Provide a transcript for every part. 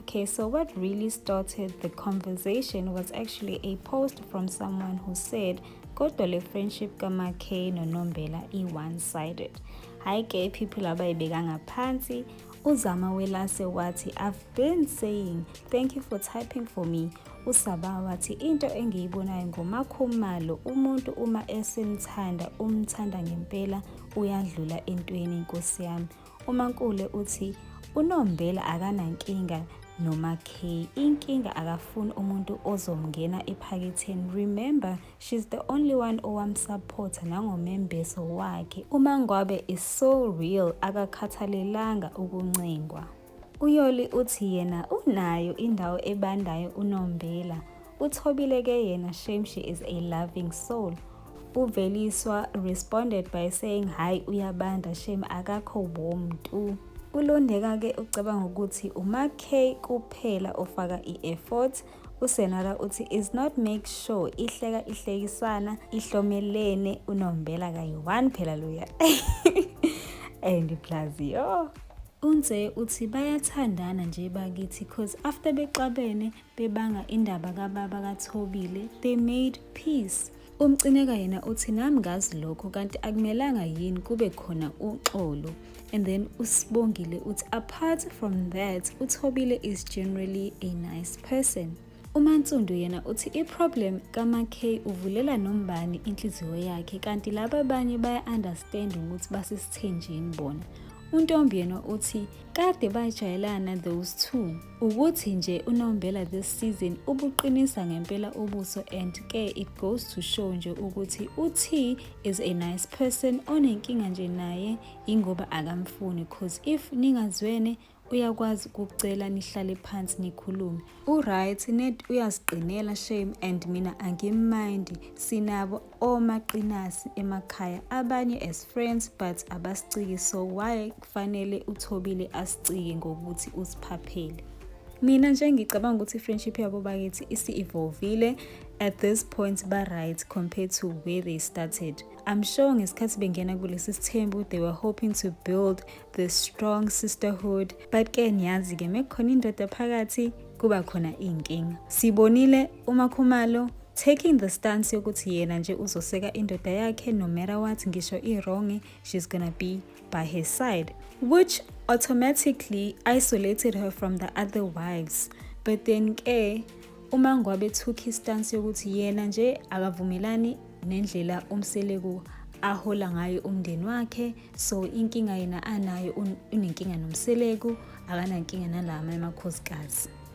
Okay, so what really started the conversation was actually a post from someone who said, kodwa le friendship kamakay nonombela i-one sided hhayi ke people abayibeka ngaphansi uzama welase wathi i've been saying thank you for typing for me usaba wathi into engiyibonayo ngomakhumalo umuntu uma esemthanda umthanda ngempela uyadlula entweni nkosi yami UMankule uthi uNombela akanankinga noMackay. Inkinga akafuni umuntu ozomngena ephaketheni. Remember, she's the only one owamsupporta nangomembeso wakhe. UMangwabe is so real, akakhathalelanga ukuncengwa. UYoli uthi yena unayo indawo ebandayo uNombela. Uthobile ke yena shame she is a loving soul. Uveliswa responded by saying hayi uyabanda shame akakho warm tu. Ulondeka ke ucabanga ukuthi uma K kuphela ofaka i-effort usenala uthi is not make sure ihleka ihlekisana ihlomelene unombela kayi-one phela loya and plus yo unze uthi bayathandana nje bakithi cause after bexabene bebanga indaba kababa kaThobile they made peace umcineka yena uthi nami ngazi lokho kanti akumelanga yini kube khona uxolo and then usibongile uthi apart from that uthobile is generally a nice person umansundu yena uthi iproblem kamak uvulela nombani inhliziyo yakhe kanti laba abanye baya-understand ukuthi basesithenjini bona untombi yena uthi kade bajayelana those two Ukuthi nje uNombela this season ubuqinisa ngempela ubuso and ke it goes to show nje ukuthi uT is a nice person onenkinga nje naye ingoba akamfuni cause if ningazwene uyakwazi ukucela nihlale phansi nikhulume uright net uyaziqinela shame and mina angimmind sinabo omaqinasi emakhaya abanye as friends but abasiciki so why kufanele uthobile asicike ngokuthi usiphaphele mina nje ngicabanga ukuthi i-friendship yabo bakithi isi-evolvile at this point ba-right compared to where they started i'm sure ngesikhathi bengena kulesi sithembu they were hoping to build the strong sisterhood but ke niyazi-ke mekukhona indoda phakathi kuba khona iy'nkinga sibonile uMakhumalo taking the stance yokuthi yena nje uzoseka indoda yakhe no matter what ngisho i-wrong she's gonna be by her side which automatically isolated her from the other wives but then ke uma ngwabe took istance yokuthi yena nje akavumelani nendlela umseleku ahola ngayo umndeni wakhe so inkinga yena anayo unenkinga nomseleku akanankinga nalama emakhosikazi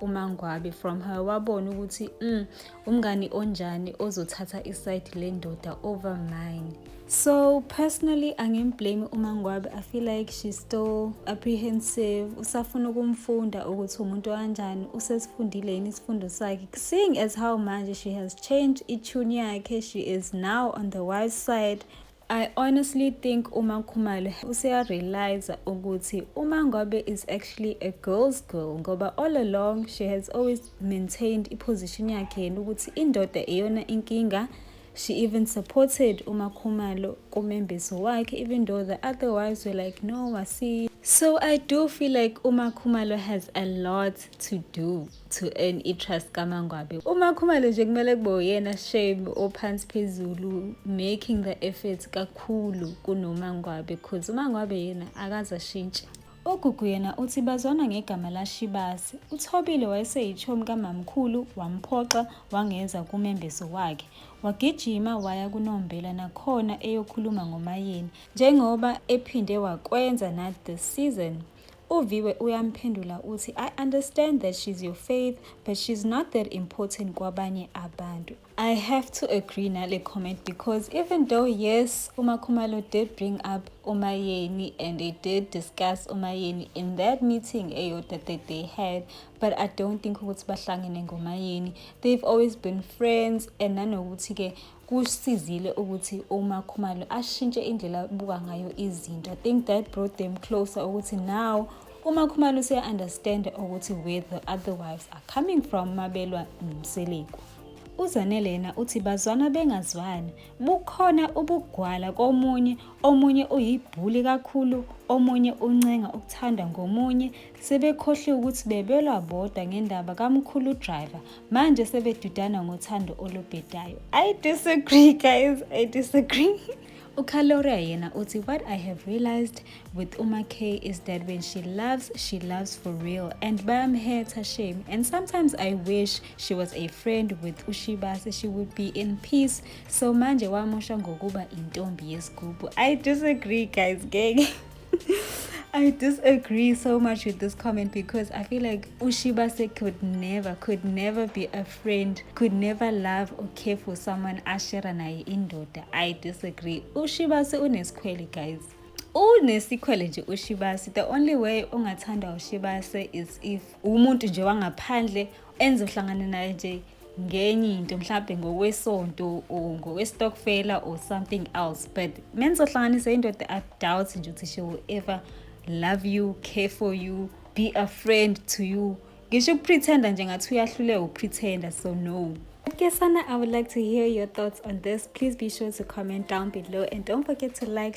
umangwabe from her wabona ukuthi mm, umngani onjani ozothatha isayidi lendoda over mine so personally angimblame umangwabe i feel like she's still apprehensive usafuna ukumfunda ukuthi umuntu kanjani usesifundile yini isifundo sakhe seeing as how manje she has changed itune yakhe she is now on the wise side I honestly think uma Khumalo useya realize ukuthi uma Ngobe is actually a girl's girl ngoba all along she has always maintained i position yakhe yena ukuthi indoda iyona inkinga she even supported uma Khumalo kumembeso wakhe even though the other wives were like no wasi so I do feel like uma Khumalo has a lot to do to earn i-trust kamangwabe umakhumalo nje kumele kube uyena shame ophansi phezulu making the effort kakhulu kunomangwabe cause umangwabe yena akaze ashintshe ugugu yena uthi bazwana ngegama lashibasi uthobile wayeseyithomi kamamkhulu wamphoxa wangeza kumembeso wakhe wagijima waya kunombela nakhona eyokhuluma ngomayeni njengoba ephinde wakwenza na the season uviwe uyamphendula uthi i understand that she's your faith but she's not that important kwabanye abantu i have to agree nale comment because even though yes umakhumalo did bring up umayeni and they did discuss umayeni in that meeting eyodwa that they had but i don't think ukuthi bahlangene ngomayeni they've always been friends and nanokuthi-ke kusizile ukuthi umakhumalo ashintshe indlela abuka ngayo izinto i think that brought them closer ukuthi now umakhumalo useya-understanda ukuthi where the other wives are coming from mabelwa nomseleku uzanele yena uthi bazwana bengazwani bukhona ubugwala komunye omunye uyibhuli kakhulu omunye uncenga ukuthanda ngomunye Sebekhohliwe ukuthi bebelwa bodwa ngendaba kamkhulu driver manje sebedudana ngothando olubhedayo. I disagree guys, I disagree. Ukaloria yena uthi what I have realized with Uma K is that when she loves, she loves for real and bayamhetha shame and sometimes I wish she was a friend with Ushibase she would be in peace so manje wamosha ngokuba intombi yesigubhu. I disagree guys ngeke. I disagree so much with this comment because I feel like Ushibase could never, could never be a friend, could never love or care for someone ashera naye indoda. I disagree. Ushibase unesikhwele guys. unesikhwele nje ushibase the only way ongathanda ushibase is if umuntu nje wangaphandle enze uhlangane naye nje ngenye into mhlawumbe ngokwesonto or ngokwestokfela or something else but menizohlanganisa indoda i doubt nje ukuthi she will ever love you care for you be a friend to you ngisho ukupretenda nje ngathi uyahluleka ukupretenda so no Okay, Sana, I would like to hear your thoughts on this. Please be sure to comment down below and don't forget to like,